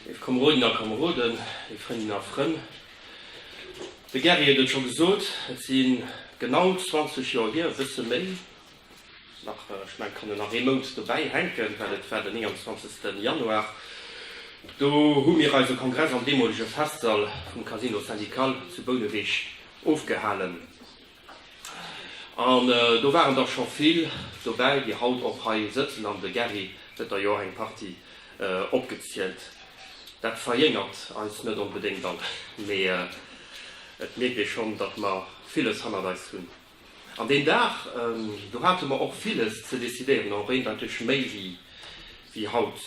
Lief Kameroden a Kameroden, lief Frëndin a Frënn, de Gerry huet et scho gesot, et si genau 20 Joer hier, e bësse méi nach, ech mengen, et kann een nach ee Mount dobäi hänken, well et war den 29. Januar, do hu mir eise Kongress am deemolege Festsall vum Casino Syndical zu Bouneweg ofgehalen. An do waren der scho vill dobäi, déi haut och hei sëtzen, an de Gary huet der jo eng Partie opgezielt. Dat verjéngert eis net onbedéngt all, mee et mierkt ee schonn, datt mer villes hannert eis hunn. An deen Dag do hate mer och villes ze decidéieren, och eendeiteg méi wéi haut.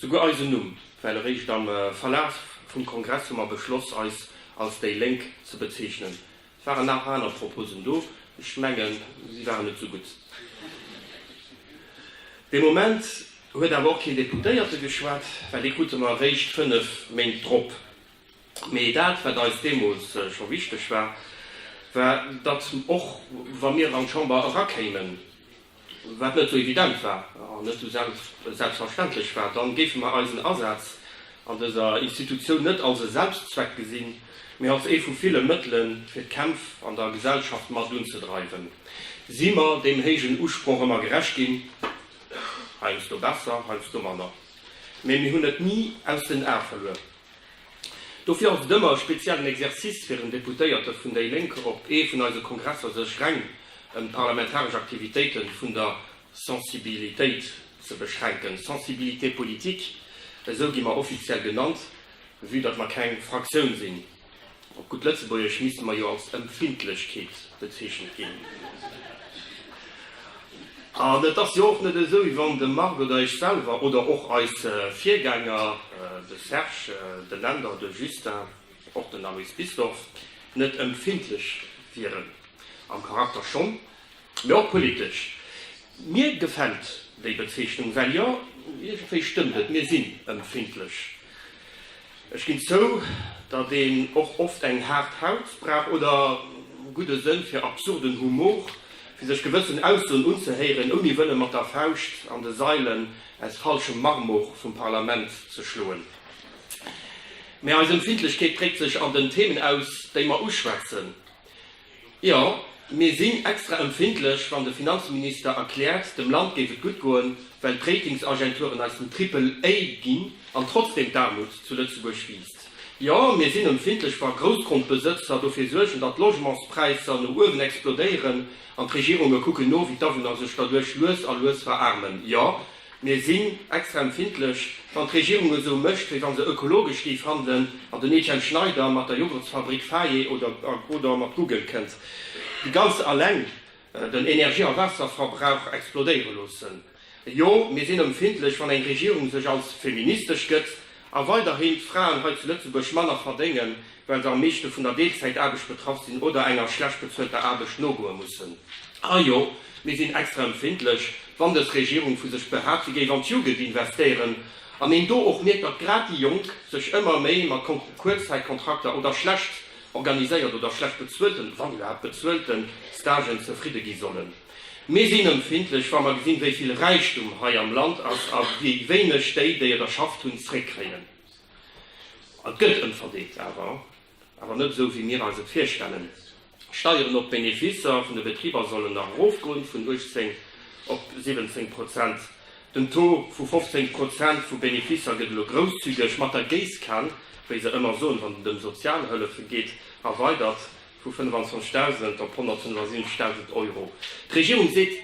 Souguer eisen Numm well eréischt am Verlaf vum Kongress hu mer beschloss eis als déi Lénk ze bezeechnen. Et waren nach aner Proposen do, ech mengen si waren net sou gutt. Dee Moment huet awer och keen Deputéierte geschwat, well dee krute mer eréischt 5 Méint drop. Mee dat wat eis deemools scho wichteg war, war datt och wa mir an d'Chamber erakéimen, wat net esou evident war an net esou selbstverständlech war, dann géife mer eisen Asaz an dëser Institutioun net als e Selbstzweck gesinn, mee als ee vu ville Mëttelen, fir d'Kämpf an der Gesellschaft mat unzedreiwen. Si mer deem héijen Usproch ëmmer gerecht ginn? Heiansdo besser, heiansdo manner, mee mir hunn et ni aus den Ae verluer. Dofir ass et ëmmer e speziellen Exercice fir en Deputéierte vun déi Lénk op ee vun eise Kongresser sech reng ëm d'parlamentaresch Aktivitéite vun der Sensibilitéit ze beschränken, Sensibilité politique, esou gi mer offiziell genannt, vue datt mer keng Fraktioun sinn. Op gutt Lëtzebuergesch misste mer jo als Empfindlechkeet bezeechent ginn. An et ass jo och net esou, wéi wann de Marc oder ech selwer oder och eis Virgänger, de Serge, den Änder, de Justin, och den Aloyse Bisdorff, net empfindlech wieren. Am Charakter schonn, Mee och politesch. Mir gefällt déi Bezeechnung, well jo, iergendwéi stëmmt et, mir sinn ëmpfindlech. Ech ginn zou, datt een och oft eng haart Haut brauch oder gudde Sënn fir absurden Humor, fir sech gewëssen Aussoen unzehéieren, ouni wëlle mat der Fauscht an de Sailen aus falschem Marmor vum Parlament ze schloen. Mä eis Ëmpfindlechkeet dréckt sech an den Themen aus, déi mer uschwätzen. Jo, mir sinn extra empfindlech, wann de Finanzminister erkläert, dem Land géif et gutt goen, well d'Ratingsagenturen eis den Triple A ginn, an trotzdem d'Aarmut zu Lëtzebuerg wiisst. Jo, mir sinn empfindlech, wa Groussgrondbesëtzer dofir suergen, datt d'Logementspräisser no uewen explodéieren, an d'Regierunge kucken no, wéi d'Awunner sech derduerch lues a lues veraarmen. Jo. Mir sinn extra empfindlech, wann d'Regierung esou mécht, wéi wa se ökologesch géif handelen an den Etienne Schneider mat der Jogurtsfabrik Faye oder oder mat Google kënnt déi ganz alleng den Energie a Waasserverbrauch explodéiere loossen. Jo, mir sinn empfindlech, wann eng Regierung sech als feministesch gëtt A weiderhin d'Fraen hei zu Lëtzebuerg manner verdéngen, well se am meeschte vun der Deelzäitaarbecht betraff sinn oder enger schlecht bezuelter Aarbecht nogoe mussen. A jo, mir sinn extra empfindlech, wann dës Regierung vu sech behaapt, si géif an d'Jugend investéieren an een do och mierkt, datt grad déi Jonk sech ëmmer méi mat Kuerzzäitkontrakter oder schlecht organiséiert oder schlecht bezuelten, wann iwwerhaapt bezuelten, Stagen zefridde gi sollen. Mir sinn ëmpfindlech, wa mer gesinn, wéi vill Räichtum hei am Land ass a wéi wéineg déi, déi et erschafft hunn, zréckkréien. Et gëtt ëmverdeelt, awer, awer net esou, wéi mir eis et virstellen. D'Steieren op d'Benefisser vun de Betriber sollen nach erofgoen, vun 18 op 17 Prozent. Den Taux vu 15 Prozent vu Benefisser gëtt elo grousszügeg mat der Géisskan, wéi se ëmmer soen, wann et ëm Sozialhëllefe geet, erweidert. Vu 25.000 op 175.000 Euro. D'Regierung seet,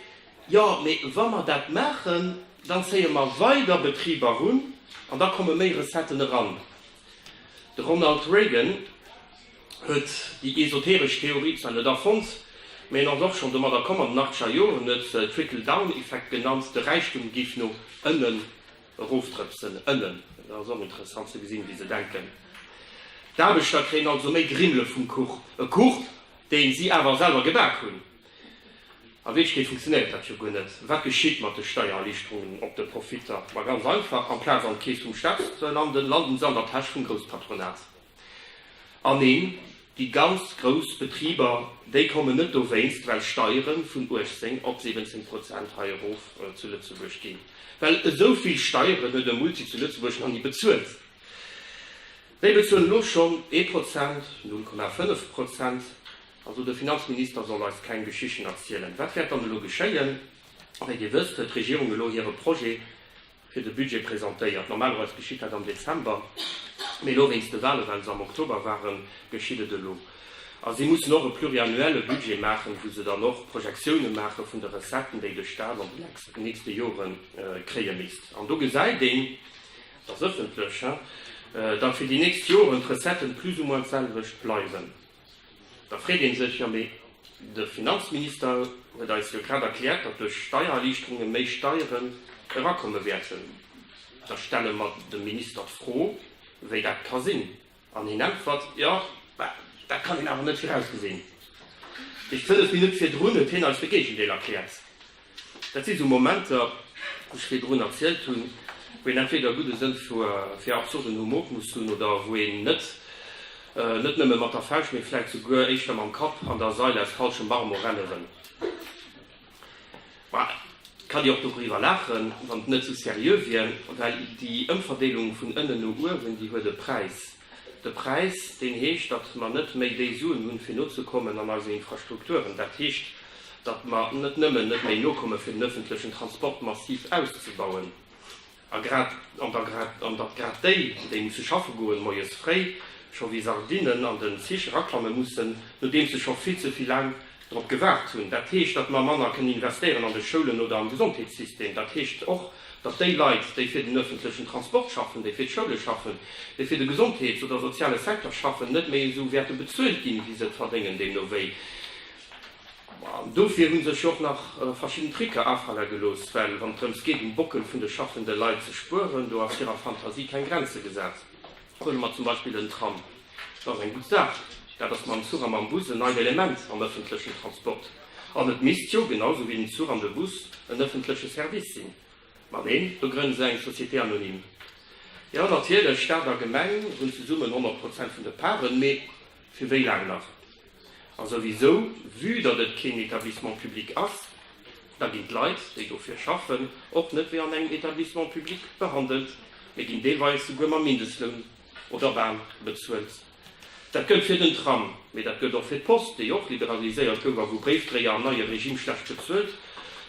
Jo, mee wa mer dat maachen, dann zéie mer weider Betriber erun an da komme méi Recetten eran. De Ronald Reagan huet déi esoteresch Theorie zwar net erfonnt, mee en ass och schonn domadder komm an den achtzeger Joren, huet Trickle-down-Effekt genannt, de Räichtum géif no ënnen Erofdrëpsen ënnen, et ass och interessant ze gesinn, wéi se denken. D'Aarbechter kréien also méi Grimmele vum Kuch, e Kuch, dee si awer selwer gebak hunn. A Wierklechkeet funktionéiert dat jo guer net. Wat geschitt mat de Steiererliichterungen op de Profitter? Ma ganz einfach, amplaz an d'Keess vum Staat ze landen, landen se an der Täsch vum Grousspatronat. An neen, déi ganz grouss Betriber, déi kommen net dowéinst, well Steiere vun 18 op 17 Prozent hei erof zu Lëtzebuerg ginn. Well esou vill Steieren huet e Multi zu Lëtzebuerg nach ni bezuelt. Déi bezuelen elo schonn ee Prozent, 0,5 Prozent. Also de Finanzminister soll eis keng Geschichten erzielen. Wat wäert dann elo geschéien? Wéi Dir wësst, huet d'Regierung elo hire Projet fir de Budget presentéiert. Normalerweis geschitt dat am Dezember, mee elo wéinst de Wale, well se am Oktober waren, geschitt et elo. A si mussen och e pluriannuelle Budget maachen, wou se dann och Projektiounen maache vun de Recetten, déi de Stat an den nächste Jore kréie misst. An do gesäit een, dat ass ëffentlech, datt fir déi nächst Joren d'Recetten plus ou moins d'selwecht bleiwen. Da freet ee sech, Jo mee de Finanzminister huet eis jo grad erkläert, datt duerch Steiererliichterunge méi Steieren erakomme wäerten. Da stelle mer dem Minister d'Fro, wéi dat ka sinn. An hien äntwert, Jo, dat kann een awer net virausgesinn. Fënnef Minutt virdrun huet hien eis de Géigendeel erkläert. Dat si sou Momenter, wou ech virdrun erzielt hunn, wou een entweder gudde Sënn fir absurden Humor muss hunn oder wou een net net nëmme mat der Fauscht, mee vläicht souguer éischter mam Kapp an der Sail aus falschem Marmor renne wëll. Mä et kann ee och doriwwer laachen, wann et net sou seriö wier, well déi Ëmverdeelung vun ënnen no uewen, déi huet e Präis. De Präis, deen heescht, datt mer net méi déi Suen hunn, fir nozekommen an eise Infrastrukturen. Dat heescht, datt mer net nëmmen net méi nokommen, fir den öffentlechen Transport massiv auszubauen, a grad an der grad an datt grad déi, déi musse schaffe goen, moies fréi scho wéi Sardinnen an den Zich eraklamme mussen, nodeems se scho vill ze vill laang drop gewaart hunn. Dat heescht, datt mer manner kënnen investéieren an de Schoulen oder am Gesondheetssystem. Dat heescht och. datt déi Leit, déi fir den öffentlechen Transport schaffen, déi fir d'Schoule schaffen, déi fir de Gesondheets oder soziale Secteur schaffen, net méi esou wäerte bezuelt ginn, wéi se et verdéngen, deemno wéi. An dofir hu sech jo och nach verschidden Tricke afale gelooss, well wann et drëms geet, um Bockel vun de schaffende Leit ze spueren, do ass hirer Fantasie keng Grenze gesat. Huele mer zum Beispill den Tram, dat ass eng gutt Saach. Dat ass mam Zuch a mam Bus en neit Element am ëffentlechen Transport. An et misst jo, genau sou wéi den Zuch an de Bus, en ëffentleche Service sinn. Ma neen, do grënne se eng Société anonyme. Jo, natierlech, Staat a Gemeng hunn zesummen 100 Prozent vun de Parten, mee Fir wéi laang nach? A souwisou, vue datt et keen Etablissement public ass, da ginn d'Leit, déi dofir schaffen, och net wéi an engem Etablissement public behandelt, mee ginn deelweis souguer mam Mindestloun oder bal bezuelt. Dat gëllt fir den Tram, mee dat gëllt och fir d'Post, déi och liberaliséiert gouf a wou Bréifdréier am neie Regime schlecht bezuelt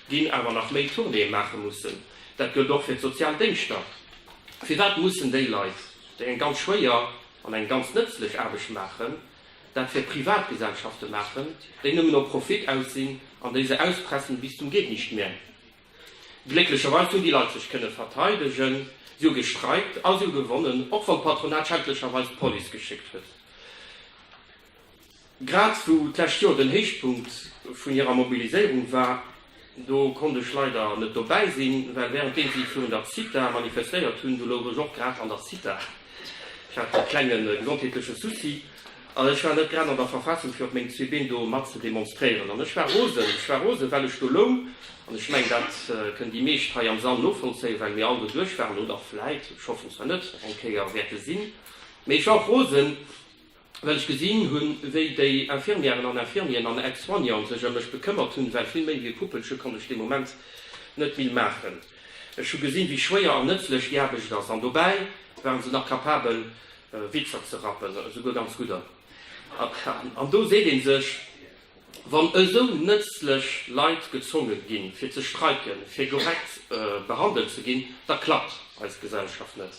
ginn, awer nach méi Tournéeë maache mussen. Dat gëllt och fir d'sozial Déngschter. Firwat mussen déi Leit, déi eng ganz schwéier an eng ganz nëtzlech Aarbecht maachen, dat fir Privatgesellschafte maachen, déi nëmmen op Profit aus sinn an déi se auspressen bis zum Geht nicht mehr. Glécklecherweis hunn déi Leit sech kënne verteidegen, si hu gestreikt a si hu gewonnen, och wann d'Patronat schändlecherweis d'Police geschéckt huet. Grad wou d'lescht Joer den Héichpunkt vun hirer Mobiliséierung war, do konnt ech leider net dobäi sinn, well während deem si virun der Zitha manifestéiert hunn, do louch ech och grad an der Zitha, ech hat e klenge gesondheetleche Souci an ech war net grad an der Verfassung fir op meng zwee Been do mat ze demonstréieren an ech war rosen, ech war rosen, well ech do loung an ech mengen, dat kënnen déi meescht hei am Sall novollzéien, well mir all do duerch waren oder vläit, ech hoffen zwar net, eng Kéier wäerte sinn, mee ech war och rosen. Well ech gesinn hunn, wéi déi Infirmièren an Infirmieren an Aide-soignanten sech ëm mech bekëmmert hunn, well vill méi wéi e Puppelche konnt ech dee Moment net vill maachen. Ech hu gesinn, wéi schwéier an nëtzlech déi Aarbecht ass. An dobäi waren se nach capabel, Witzer ze rappen, esouguer ganz gudder. An do seet ee sech, Wann esou nëtzlech Leit gezwonge ginn, fir ze streiken, fir korrekt behandelt ze ginn, da klappt eis Gesellschaft net.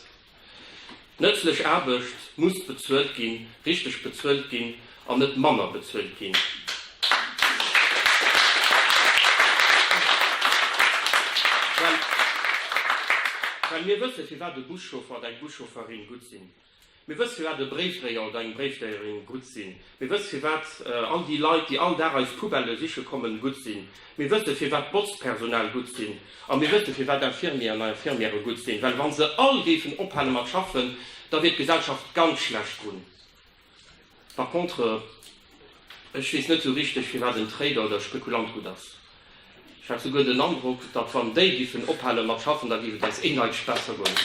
Nëtzlech Aarbecht muss bezuelt ginn, richteg bezuelt ginn an net manner bezuelt ginn. Well mir wësse firwat e Buschauffer oder eng Buschaufferin gutt sinn. Mir wësse firwat e Bréifdréier oder eng Bréifdréierin gutt sinn. Mir wësse firwat all déi Leit, déi all Dag eis Poubellë siche kommen, gutt sinn. Mir wësse firwat d'Botzpersonal gutt sinn. A mir wësse firwat d'Infirmieren a Infirmiere gutt sinn. Well wa se all géifen ophale mat schaffen, da wier d'Gesellschaft ganz schlecht drun. Par contre, ech weess net esou richteg firwat en Trader oder e Spekulant gutt ass. Ech hat souguer den Androck, datt wann déi giffen ophale mat schaffen, da géif et eis een Neitsch besser goen.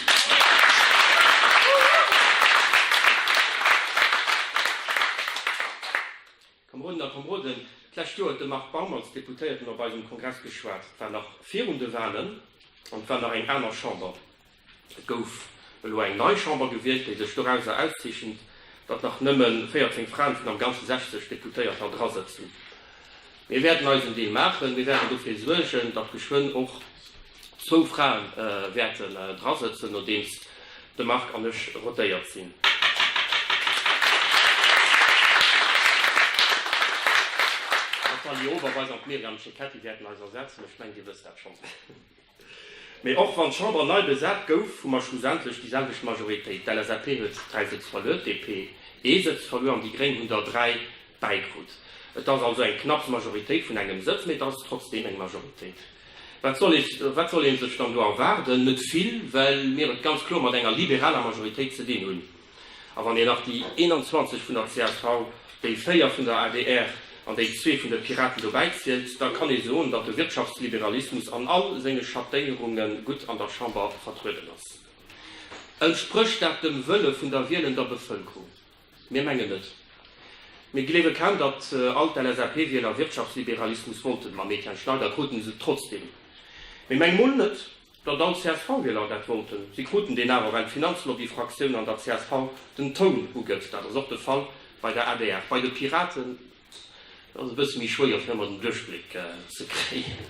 Kameronen a Kameroden, d'lescht Joer huet de Marc Baum als Deputéierten op eisem Kongress geschwat. Et war nach virun de Wahlen an et war nach eng aner Chamber. Et gouf elo eng nei Chamber gewielt, déi sech dorauser auszeechent, datt nach nëmme 14 Fraen vun am Ganze 60 Deputéierter dra sëtzen. Mir wäerten eisen Deel maachen. Mir wäerten dofir suergen, datt geschwënn och zwou Frae wäerte dra sëtzen, nodeems de Marc an ech rotéiert sinn. D'Nathalie Overweis an d'Myriam Cecchetti wäerten eis ersetzen. Ech mengen, Dir wësst dat schonns. Mee och wann d'Chamber nei besat gouf, hu mer schlussendlech déi selwecht Majoritéit. D'LSAP huet dräi Sëtz verluer, d'DP ee Sëtz verluer an déi Gréng hunn der dräi bäikrut. Et ass also eng knapps Majoritéit vun engem Sëtz, mee et ass trotzdeem eng Majoritéit. Wat soll ee sech dann do erwaarden? Net vill, well mir et ganz kloer mat enger liberaler Majoritéit ze dinn hunn. A wann een nach déi 21 vun der csv, déi 4 vun der adr an déi zwee vun de Piraten dobäi zielt, da kann ee soen, datt de Wirtschaftsliberalismus an all senge Schattéierunge gutt an der Chamber vertrueden ass. Entsprécht dat dem Wëlle vun der wielender Bevëlkerung? Mir mengen net. Mir gleewe kaum, datt all d'LSAP-Wieler Wirtschaftsliberalismus wollten. Mam Etienne Schneider kruten se et trotzdeem. Mee meng mol net, Datt all CSV-Wieler dat wollten, si kruten deen awer, well d'Finanzlobby-Fraktioun an der csv den Toun ugëtt. Dat ass och de Fall bei der adr. Bei de Piraten ass et e bësse méi schwéier, fir ëmmer den Duerchbléck ze kréien.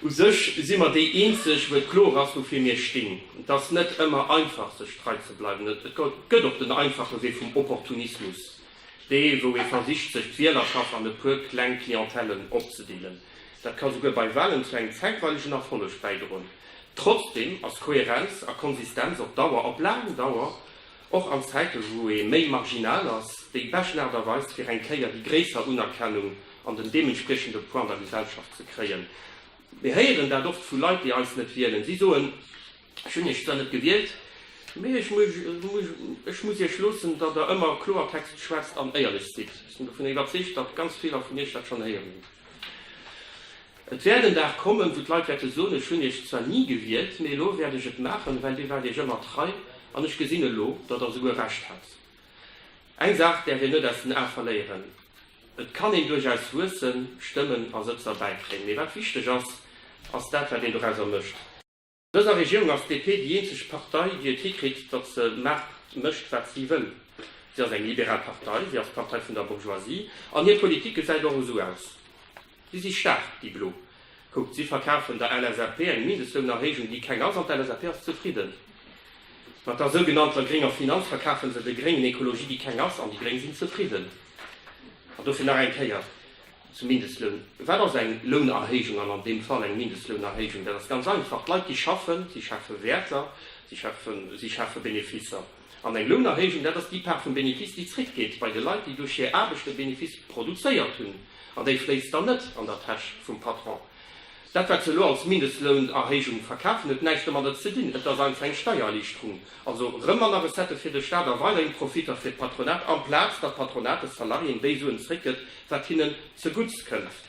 U sech si mer déi Eenzeg, wou et kloer ass, woufir mir stinn. Et ass net ëmmer einfach, sech trei ze bleiwen. Et gëtt och den einfache Wee vum Opportunismus. Dee wou ee versicht sech d'Wielerschaft an e puer kleng Clientellen opzedeelen. Dat ka souguer bei Wahlen zu engem zäitweilegen Erfolleg bäidroen. Trotzdeem ass Kohärenz a Konsistenz op Dauer, op laang Dauer, och an Zäite wou ee méi marginal ass, déi beschten Aart a Weis fir eng Kéier déi gréisser Unerkennung an den deementspriechende Poids an der Gesellschaft ze kréien. Mir héieren dat oft vu Leit déi eis net wielen. Si soen. Ech hunn Iech zwar net gewielt, mee ech muss Iech loossen, datt Der ëmmer Kloertext schwätzt an éierlech sidd. Ech sinn dovun iwwerzeegt, datt ganz viler vun Iech dat schonn héieren hunn. Et wäert en Dag kommen, wou d'Leit wäerte soen, Ech hunn Iech zwar ni gewielt, mee elo wäert ech et maachen, well Dir waart Iech ëmmer trei an ech gesinn elo, datt Der souguer Recht hat. Eng Saach däerf een net aus den Ae verléieren, Et kann een duerchaus wuessen, Stëmmen a Sëtzer bäikréien, mee wat wichteg ass, ass dat, wat een dorauser mécht. Dëser Regierung ass d'DP déi eenzeg Partei, déi et hikritt, datt se Maart mécht, wat si wëll. Si ass eng liberal Partei, si ass d'Partei vun der Bourgeoisie an hir Politik gesäit och esou aus. Si si staark, déi Blo. Kuckt, si verkafen der LSAP eng Mindestlounerhéijung, déi keng ass, an d'LSAP ass zefridden. Mat der sougenannter grénger Finanz verkafe se de Gréngen Ekologie, déi keng ass, an déi Gréng sinn zefridden. An dofir nach eng Kéier. zum Mindestloun, wat ass eng Lounerhéijung an an deem Fall eng Mindestlounerhéijung? Dat ass ganz einfach, d'Leit déi schaffen, si schafe Wäerter, si schafe, si schafe Benefisser. An eng Lounerhéijung, dat ass déi Part vum Benefiss déi zréckgeet bei de Leit déi duerch hir Aarbecht de Benefiss produzéiert hunn, an déi fléisst dann net an der Täsch vum Patron. Dat wat se elo als Mindestlounerhéijung verkafen huet näischt domadder ze dinn. Et ass einfach eng Steiererliichterung. Also rëm manner Recettë fir de Staat a weiderhin Profitter fir d'Patronat, amplaz datt d'Patronat de Salariéen déi Suen zréckgëtt wat hinnen zegutts kënnt.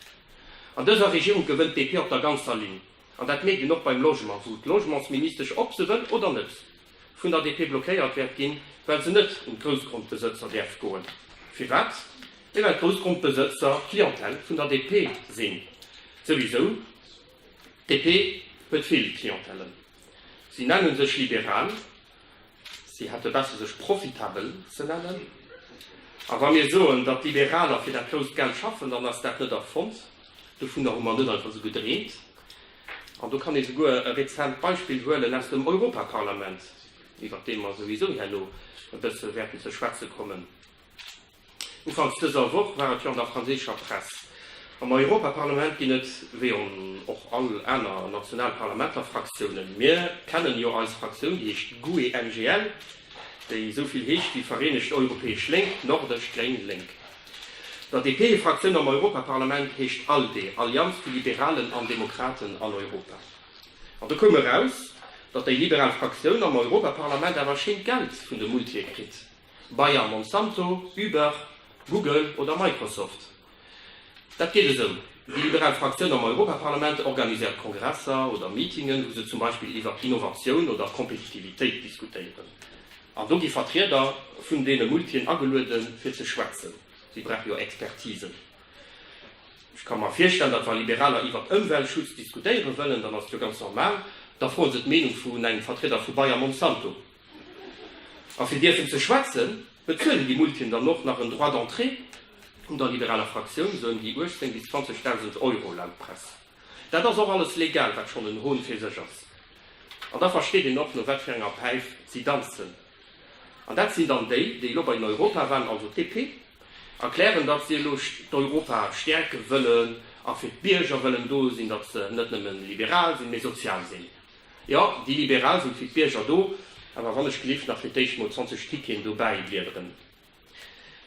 An dëser Regierung gewënnt d'DP op der ganzer Linn. An dat mierkt een och beim Logement, wou d'Logementsministesch, ob se wëll oder net, vun der DP blockéiert wäert ginn, well se net un d'Groussgrondbesëtzer däerf goen. Firwat? Mee well d'Groussgrondbesëtzer d'Clientèle vun der DP sinn. Souwisou, d'DP huet vill Clientèlen. Si nenne sech liberal, si hätte besser sech profitabel ze nennen. A wa mir soen, datt d'Liberaler fir dat grousst Geld schaffen, dann ass dat net erfonnt, dovunner hu mer net einfach esou gedreemt. An do kann ee souguer e rezent Beispill huelen aus dem Europaparlament, iwwert dee mer souwisou herno e bësse wäerten ze schwätze kommen. Ufanks dëser Woch war et jo an der franséischer Press. Am Europaparlament ginn et, wéi an och all aner national Parlamenter, Fraktiounen. Mir kennen jo eis Fraktioun, déi heescht GUE-NGL, déi esou vill heescht wéi Vereenegt Europäesch Lénk, Nordesch, Gréng, Lénk. Der DP-Fraktioun am Europaparlament heescht ALDE, Allianz vu Liberalen an Demokraten an Europa. An do koum eraus, datt déi liberal Fraktioun am Europaparlament awer schéint Geld vun de Multië kritt, Bayer, Monsanto, Uber, Google oder Microsoft. Dat geet esou, Déi liberal Fraktioun am Europaparlament organiséiert Kongresser oder Meetingen, wou se zum Beispill iwwer Innovatioun oder Kompetitivitéit diskutéieren. An do gi Vertrieder vun deene Multien agelueden, fir ze schwätzen. Si brauche jo Expertisen. Ech ka mer virstellen, datt wa Liberaler iwwert Ëmweltschutz diskutéiere wëllen, dann ass et jo ganz normal, da froe se d'Meenung vun engem Vertrieder vu Bayer Monsanto. A fir dierfen ze schwätzen, bezuelen déi Multien dann och nach en Droit d'entrée un der liberaler Fraktioun, soen déi 18 bis 20.000 Euro, laut Press. Dat ass och alles legal, wat schonn en Hon fir sech ass. An da versteet een och, no wat fir enger Päif si danzen. An dat sinn dann déi, déi elo bei den Europawalen, also d'DP, erklären, datt si elo d'Europa stäerke wëllen a fir d'Bierger wëllen do sinn, datt se net nëmme liberal sinn, mee sozial sinn. Jo, déi Liberal sinn fir d'Bierger do, awer wann ech gelift nach fir d'éischt mol 20 Ticketen dobäi bliederen.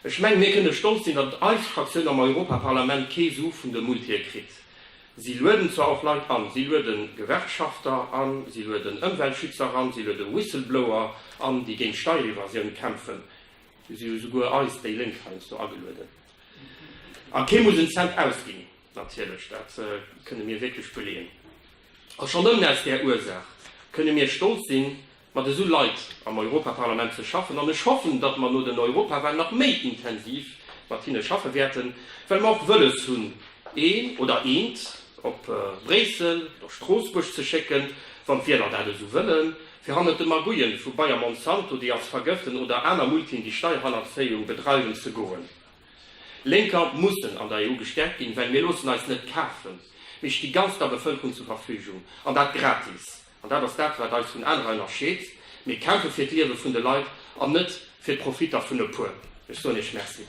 Ech mengen, mir kënnen stolz sinn, datt eis Fraktioun am Europaparlament kee Su vun de Multie kritt. Si lueden zwar och Leit an, si lueden Gewerkschafter an, si lueden Ëmweltschützer an, si luede Whistleblower an, déi géint Steierevasioun kämpfen, si hu souguer eis déi Lénk heiansdo agelueden. A kee muss en Cent ausginn, natierlech, dat kënne mir wierklech beleeën. A schonn nëmmen aus där Ursaach kënne mir stolz sinn, mat esou Leit am Europaparlament ze schaffen an ech hoffen, datt mer no den Europawahlen nach méi intensiv mat hinne schaffe wäerten, well mer och wëlles hunn, een oder eent op Bréissel oder Stroossbuerg ze schécken, wann d'Wieler dat esou wëllen, fir hannert de Magouillen vu Bayer-Monsanto, déi eis vergëften, oder aner Multien, déi Steierhannerzéiung bedreiwen, ze goen. Lénker mussen an der EU gestäerkt ginn, well mir loossen eis net kafen. Mir sti ganz der Bevëlkerung zur Verfügung, an dat gratis. An dat ass dat, wat eis vun anerer ënnerscheet. Mir kämpfe fir d'Liewe vun de Leit an net fir d'Profitter vun e puer. Ech soen Iech Merci.